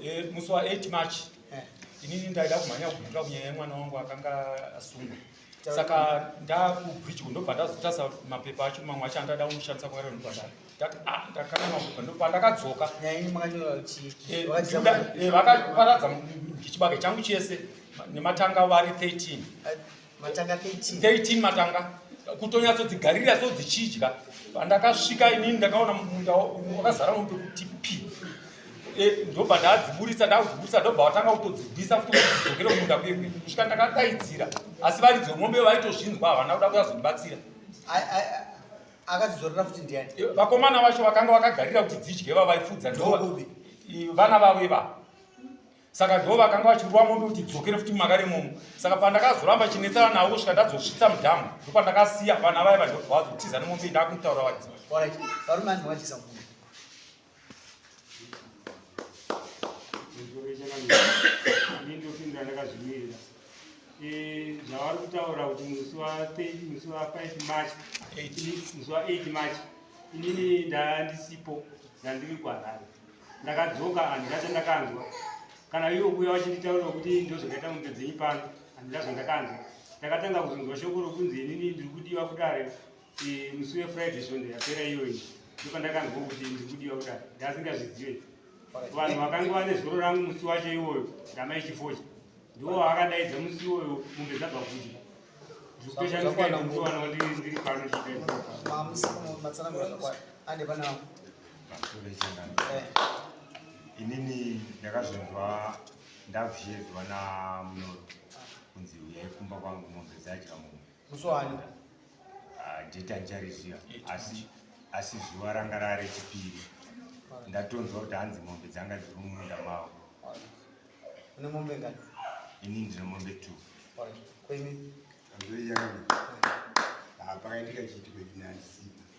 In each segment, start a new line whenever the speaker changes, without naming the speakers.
Eh,
musi wa 8 march
eh. inini ndaida kumhanya kubvira kunyaya yemwana wangu akanga asungwa saka ndakubridge kundobva ndazotasa mapepa acho mamwe acho andada kumushandisa kwaari ndobvadai ah, ndakana mapepa ndopandakadzoka eh, vakaparadza chibage changu chese nematanga vari 13 matanga 13 matanga kutonyatsodzigarira so dzichidya pandakasvika inini ndakaona munda wakazara mombe kuti pi e, ndobva ndadziburitsa ndakudziburitsa ndobva vatanga kutodzibvisa futi kudzokera kumunda kuye kuye kusvika ndakadaidzira asi varidzi vemombe vaitozvinzwa havana kuda kuyazondibatsira
akadzizorera futi ndiani e, vakomana vacho vakanga
vakagarira kuti dzidye vavaifudza vana vavo ivavo saka ndivo vakanga vachirova mombe kuti dzokere futi mumagari imomo saka pandakazoramba chinetsana navo kusvika ndadzosvitsa mudhamu ndo pandakasiya vana vaye vandobva vazotiza nemombe ndakumutaura vadziva
eh, zvavari kutaura kuti musi wa 30 musi wa 5 march musi wa 8 march inini ndandisipo ndandiri kwarari ndakadzoka handina chandakanzwa kana ivo kuuya vachinditaura kuti ndozvakaita mumbe dzenyu pano handina zvandakanzwa ndakatanga kuzonzwa shoko rokunzi inini ndiri kudiwa kudare musi wefriday svondo yapera iyoyi ndopandakanzwa kuti ndiri kudiwa kudare ndasingazvizive vanhu vakanga vane zoro rangu musi wacho iwoyo ndamai chifocha ndiwo vaakadaidza musi iwoyo mumbe dzabva kuti ndikutoshandisaaana wandiri pano chiaa pamusoro
pechingano inini ndakazonzwa ndakushedzwa namunoro kunzi uyai kumba kwangu mombe dzadya mombe musoani
ah,
jeti andichariziva asi asi zuva ranga rave rechipiri ndatonzwa kuti hanzi mombe dzanga dziri mumunda mavo
une mombe ngani ini ndine
mombe two Alright. kwemi
Anzoi yakadini?
Ah, pakaitika chiitiko chinandisipa.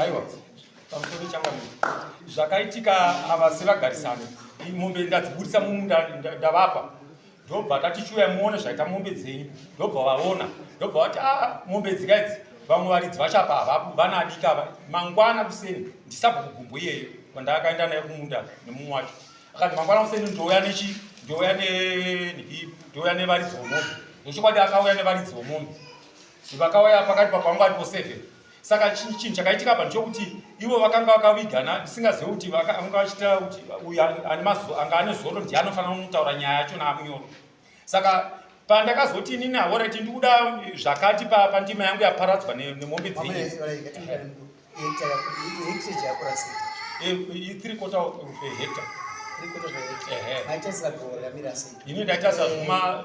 aiwa pamusoro changamire zvakaitika havasi vagarisani mombe ndadziburitsa mumunda ndavapa ndobva tatichiuya muone zvaita mombe dzenyu ndobva vaona ndobva vati a ah, mombe dzika idzi vamwe varidzi vachapa havapo vana adika ava mangwana kuseni ndisabva kugumbo iyeyo kwandakaenda naye kumunda nemumwe wacho akati mangwana kuseni ndouya nechi ndouya nenhii ndouya nevaridzi vomombe nechokwadi akauya nevaridzi vomombe Vakauya pakati papangu aripo seven. Saka chinhu chinhu chakaitika apa ndechokuti ivo vakanga vakavigana ndisingazive kuti vakanga vachita kuti uyu ane mazuva anga ane zoro ndiye anofanira kunotaura nyaya yacho naamunyoro. Saka pandakazoti inini aoreti ndikuda zvakati pa pandima yangu yaparadzwa ne- nemombe Mama dzenyu. yese varaikati mutare mukuru. Hekita yaku- hekita yakurasika. Eh, i- three quarter of a hectare. Tiri kutozoita. Ehe. Maita saka gore ramira sei? Ini ndaita sazvuma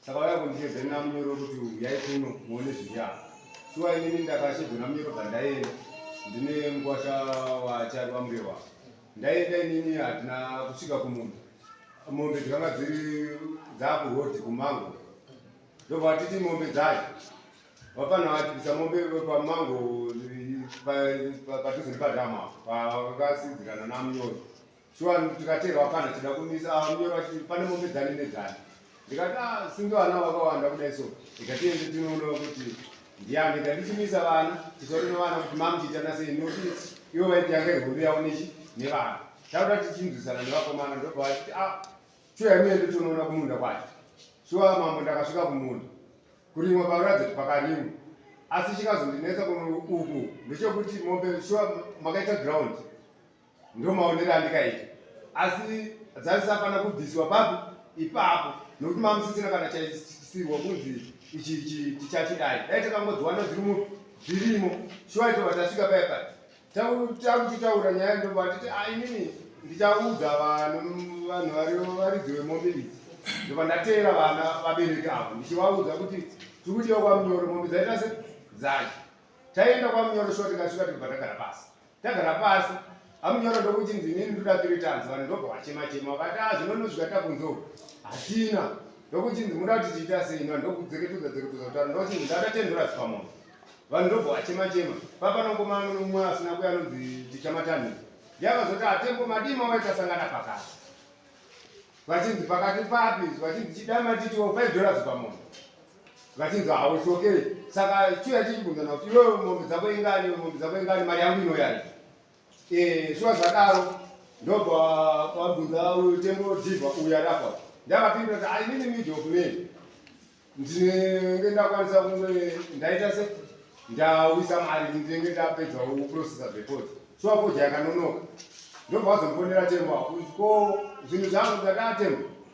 saka vaya kundichedza nina munyoro kuti uyai kuno muone zviya shuwa inini ndakashedzwa namunyoro bvandaenda ndine mukwasha wachari wamurewa ndaenda inini hatina kusvika kumunda mombe dzikanga dziri dzakurodi kumango ndobva vatiti mombe dzacho vapana vachipisa mombe pamango padhuze nepadhama pakasidzikana namunyoro shuwa tikateerwa pana tida kumisa ah, munyoro vachiti pane mombe dzani nedzani ndikati a ah, singe vana vakawanda kudai so ndikatiende tinoonova kuti ndiyani ndandichimisa vana titaure nevana kuti mamuchiita nasei noti ivo vaiti yanga ihondo yavo nechi nevana tauda tichinzwisana nevakomana ndobva vachiti a ah, shuwa imuende tinoona kumunda kwacho shuwa mambo ndakasvika kumunda kurimwa pakuratidza kuti pakarimwa asi chikazondinetsa kuno uku ndechekuti mombe shuwa makaita ground ndo maonero andikaita asi dzaisafanira kubviswa papi ipapo nokuti mamusisina kana chaisirwa kunzi ichi tichachidai dai takangodziwana dziri dzirimo shuwa itova tasvika paya paya takuchitaura nyaya ndoba titi ainini ah, ndichaudza vanhu varidzi vemombe idzi ndoba ndateera vana vabereki avo ndichivaudza kuti tiri kudiwa kwamunyoro mombe dzaita se dzacho taienda kwamunyoro shuwa tikasvika tikubva tagara pasi Tagara pasi. Amunyoro ndokuti ndinini ndoda three times vanhu ndobva vachema chema vakati ah zvinonozvika takunzou. Hatina. Ndokuti ndinoda kuti tiita sei vanhu ndokudzeketuza dzeketuza kutaura ndokuti ndada ten dollars pamunhu. Vanhu ndobva vachema chema. Papa nongoma nomwe asina kuya anonzi tichamatani. Yakazoti atembo madima waita sangana pakati. Vachinzi pakati papi vachinzi chidama titiwo five dollars pamunhu. vachinzi hauchokeri saka chiya chichibvunzana kuti iwe mombe dzako ingani mombe dzako ingani mari yangu inoyani eh, shuwa zvadaro ndobva wabvunza tembo dhivha uya rafa ndavapindura kuti ainini mid of man ndinenge ndakwanisa kunge ndaita se ndawisa mari ndinenge ndapedza kuprocesa before shuwa fodya yakanonoka ndobva wazomfonera tembo ko zvinhu zvangu ndakaatembo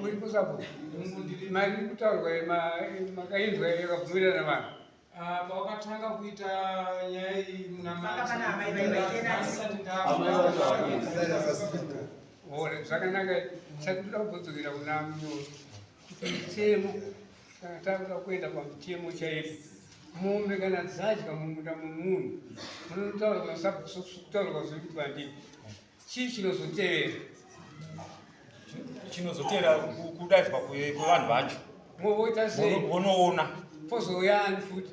muri kusapo mari kutaurwa makainzwa yakabvumirana vanhu ah, pawakatanga
kuita nyaya iyi munamaiore
zvakanaka chatikuda kubodzokera kuna munyoro chitemo kana takuda kuenda pamutemo chaipo mombe kana dzadya mumunda mumunhu munotaurwa sabkutaurwa zvekuti vandii Chii chinozotevera?
Chinozotevera kudaidzwa kwevanhu vacho. Movoita sei?
Vonoona.
Pozouya ani
futi?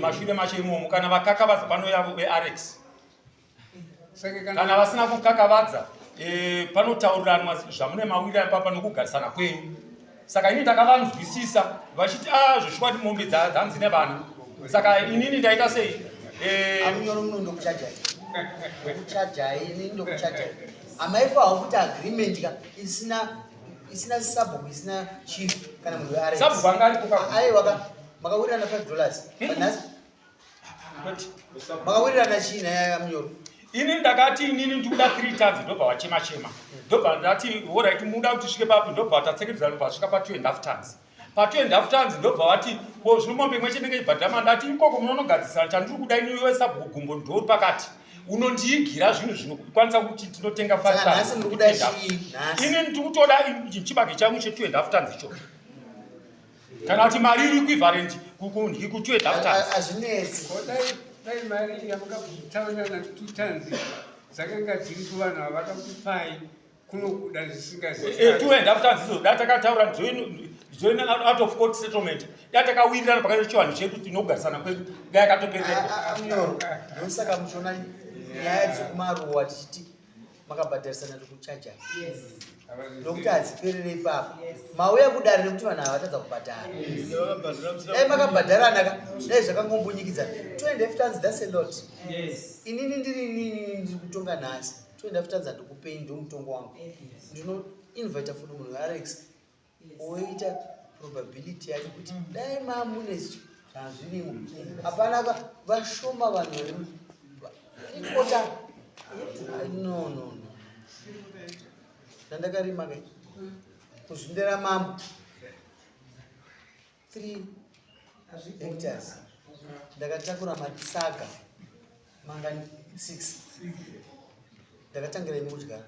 Mashure macho
imomo kana vakakavadza panouya veArex. Kana vasina kukakavadza eh, panotauriranwa zvamune mawira ipapa nokugarisana kwenyu. saka ini ndakavanzwisisa vachiti a ah, zveshuwati mombe dzanzi nevana saka inini ndaita sei eh, amunyoro
muno ndokuchajai ndokuchajai ini ndokuchajai amaifa hakuti agreement ka isina isina sabhuku isina chief kana munhu wearesabhuku anga ariko
aiwaka
makawirirana five dollars hmm. makawirirana chii naya munyoro ini ndakati
inini ndikuda three times ndobva wachema chema ndobva ndati orit muda kuti svike papi ndobva watatsekedzera ndobva vasvika pa two and half times pa two and half times ndobva wati ko zvino mombe imwe chenenge ibhadhama ndati ikoko munonogadzisana chandiri kuda ini uyo sabhuku gumbo ndori pakati unondiigira zvinhu zvinokwanisa kuti ndinotenga five times ini ndikutoda chibage changu che two and half times icho kana kuti mari iri kuivarenji kukunhi kutue daftaazvinetsi
dai
mari yamukataura na two times dzakanga dziri kuvanhu vavakakupai kunokuda zvisingaziitue eh, daftazi izo
da takataura join out of court settlement da takawirirana pakati chivanhu chedu tinogarisana kwedu da yakatopereaosaka
muchiona nyaya dzekumaruwa tichiti makabhadharisana nekuchaja nokuti hadziperere ipapo mauya kudare nekuti vanhu havatadza kubhadhara dai makabhadharana ka dai zvakangombunyikidzaa 2 f tons thats a lot inini ndiri inini ndiri kutonga nhasi 2 f tons handikupei ndomutongo wangu ndinoinvita futi munhu alex woita probability yake kuti dai mamune zvazvirimo hapana ka vashoma vanhu vari ikota no no no ndandakarima kai kuzvindera mambo 3 hectares ndakatakura matsaga mangani 6 ndakatangira ini kudya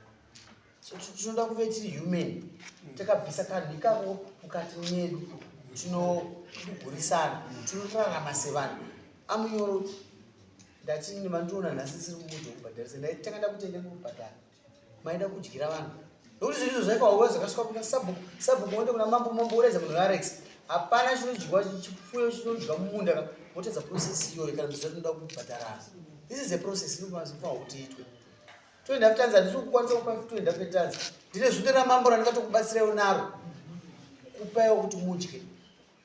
so tinoda kuve tiri human mm. takabvisa kanhu ikako mukati medu tinogurisana tinorarama sevanhu amunyoro ndati nevandiona nhasi siri kumuti wekubhadharisa ndaitanga ndakutenga kubhadhara maida kudyira vanhu nokuti zvinhu izvo zvaikaoa zvakasvika kuna sabhuku sabhuku wonde kuna mambo mambo woredza munhu arex hapana chinodyiwa chipfuyo chinodyiwa mumunda ka wotadza process iyoyo kana ndizo tinoda kubhadharana this is a process inofanira kuti itwe toenda kutanza ndisi kukwanisa kupa toenda kutanza ndine zunde ramambo randikatokubatsirayo naro kupaiwo kuti mudye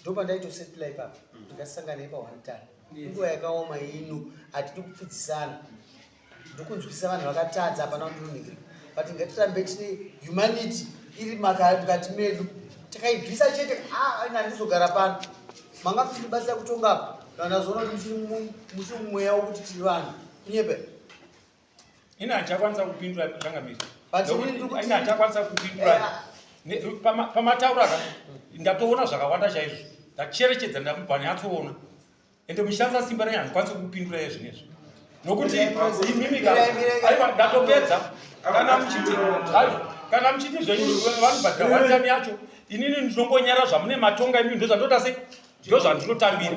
ndopandaitosetla ipapa mm. ndikasangana ipa one time nguva yakaoma ino hatidi kupfidzisana ndokunzwisisa vanhu vakatadza hapana kundinunhikira but ngatirambe tine humanity iri mukati medu takaibvisa chete ah, ina handizogara pano manga muchitibatsira kutonga apa kana ndazoona kuti muchiri mumweya wokuti tiri vanhu kunyepe
ini hachakwanisa kupindura changamiri ini hachakwanisa kupindura pamataura ka ndatoona zvakawanda chaizvo ndacherechedza ndamubva nyatsoona ende muchishandisa simba renyu handikwanisi kupindura ye zvinezvi nokuti imimika aiwa ndatopedza kana muchiti kana muchiti zvenyu vanobhadhira watani yacho inini ndinongonyara zvamune matonga imii ndozvandoda sei ndozvandinotambira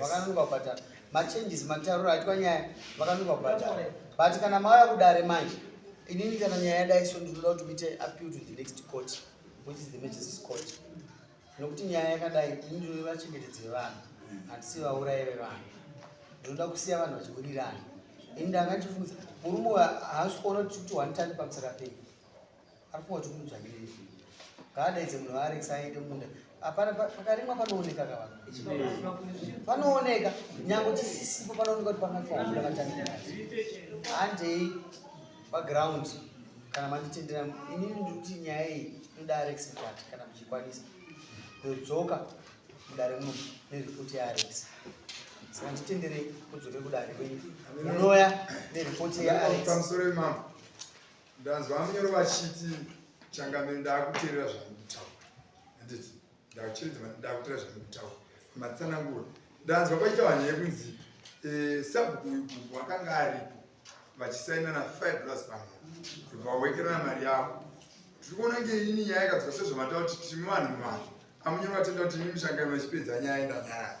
vakanunga kubhadhara machanges matarura aitwa nyaya vakanunga kubhadhara but kana mauya kudare manje inini kana nyaya yadai so ndinoda kuti muite appeal to the next court which is the majestis court nokuti nyaya yakadai ini ndinoda vachengetedzi vevanhu hatisi vaurayi vevanhu ndinoda kusiya vanhu vachiwirirana ini ndanga ndichifunza murume uyo haasi kuona kuti kuti one time pamusaka pei Arikuwa tukudzwa nyini zvinhu. Kada idze munhu ari excited munda. Apana pakarimwa panooneka ka vanhu. Panooneka nyango chisisipo panooneka kuti pakafa munda vatanga. Hande background kana manditendera ini ndikuti nyaya iyi inoda Alex Mkwati kana muchikwanisa. Ndodzoka mudare muno neripoti yaAlex. Saka nditendere kudzoke kudare kwenyu. Munoya neripoti yaAlex. Pamusoro imama.
Ndanzwa munyoro vachiti changamire ndakuteerera zvamukutaura handiti ndakucheredzwa ndakuteerera zvamukutaura matsanangura ndanzwa paita vanhu yekunzi eh, sabhuku uyu gugu akanga aripo vachisaina na five plus pamwe vawekerana mari yavo tiri kuona nge ini nyaya yakadzwa sezvamataura kuti timi vanhu muvanhu amunyoro vatenda kuti ini mushangano vachipedza nyaya ndanyaya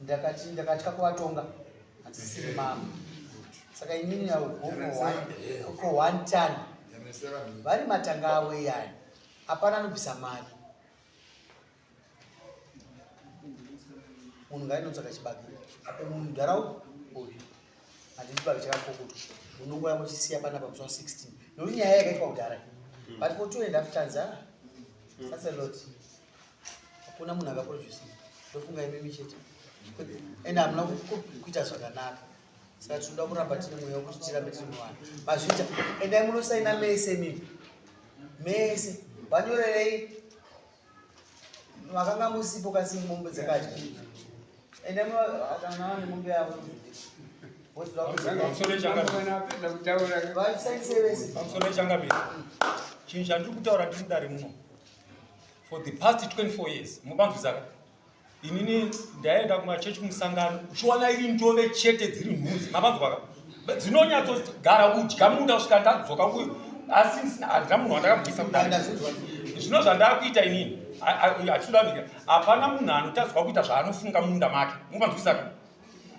ndakati ndakatya kuvatonga hadzisiri mama saka inini naugoko one ton vari matanga avo iyani hapana anobvisa mari munhu ngainotsvaka chibage apo mundharau uyu handii chibage chakakokoto unongora muchisiya panapa musi wa 16 nokuti nyaya yakaitwa kudhara but for two and half tons a that's a lot mm. hakuna munhu akaproducinga ndofunga imimi chete and hamuna kuita zvakanaka saka tinoda kuramba tine mweya wekuti tirambe tiri muvanhu mazvita endai munosaina mese mimi mese vanyorerei makanga musipo kasi mombe dzakadya endai munoakana vane
mombe yavo chinhu chandiri kutaura ndiri mudare muno for the past 24 years mubanzwisaka inini ndaenda kumachechi kumusangano uchiona iri ndove chete dziri nhuzi mabanzwaka dzinonyatsogara kudya munda kusvika ndadzoka kuyo asi handina munhu wandakabudisa kudai zvino zvandakuita inini hatidavika hapana munhu anotadzwa kuita zvaanofunga munda make mubanzwisaka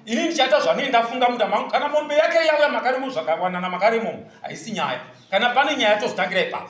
ini ndichaita zvanei ndafunga muda mangu kana mombe yake yauya makarimo zvakawanana makarimomo haisi nyaya kana pane nyaya tozotangira ipapo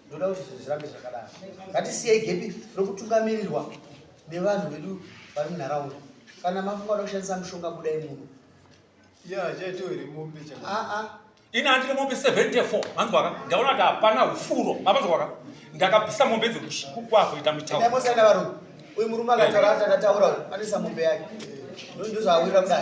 ndoda kuti zvinhu zvirambe zvakadaro ngatisiyei gepi rokutungamirirwa nevanhu vedu vari munharaunda kana mafunga oda kushandisa mushonga budai muno
ini andine mombe 74 manzwaka ndaona kuti hapana ufuro mapanzwaka ndakabvisa mombe dzekuazoita mitaurosana varume
uyu murume akataura ati akataura anisa mombe yake ndozvaawira
kudai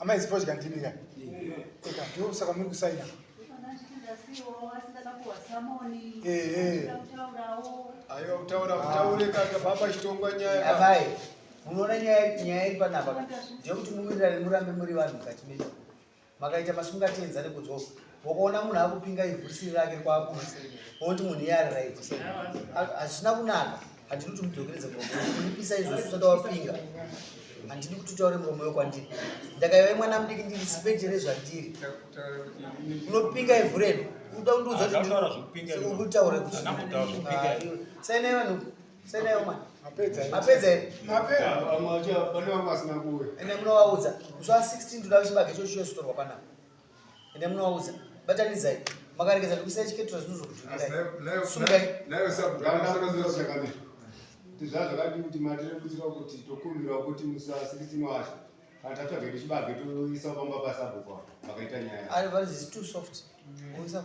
amai zifodya ndimi ka eka ndo saka muri kusaina aiwa kutaura kutaure kaka baba chitongwa nyaya amai
munoona nyaya nyaya iri panapa ndeyekuti muwirirane murambe muri vanhu mukati menyu makaita masungatenza nekudzvoka ukaona munhu akupinga ivhu risiri rake kwakusi woti munhu iye ari right hazvina kunaka handidi kuti mudzokeredze muromo unipisa izvo zvisati wapinga handidi kuti utaure muromo yo kwandiri ndakaiva mwana mudiki ndiri sipeje rezvandiri unopinga ivhu redu uda kundiudza kutikuitaure kuti sainai vanhu sainaiwo mwana mapedza here ende munovaudza kusuva 16 ndoda kuchibage chochiyozitorwa panapa ende munovaudza batanidzai makaregedza zvekusiya chiketura zvinhu zvokutuirai
tizvazvakadi kuti matirerutsira kuti tokumbirawo kuti musasirisinoasha kana tatsvage tichibage toisa pamba pasabhuku makaita nyaya ari vari zisi too soft
mm. oisa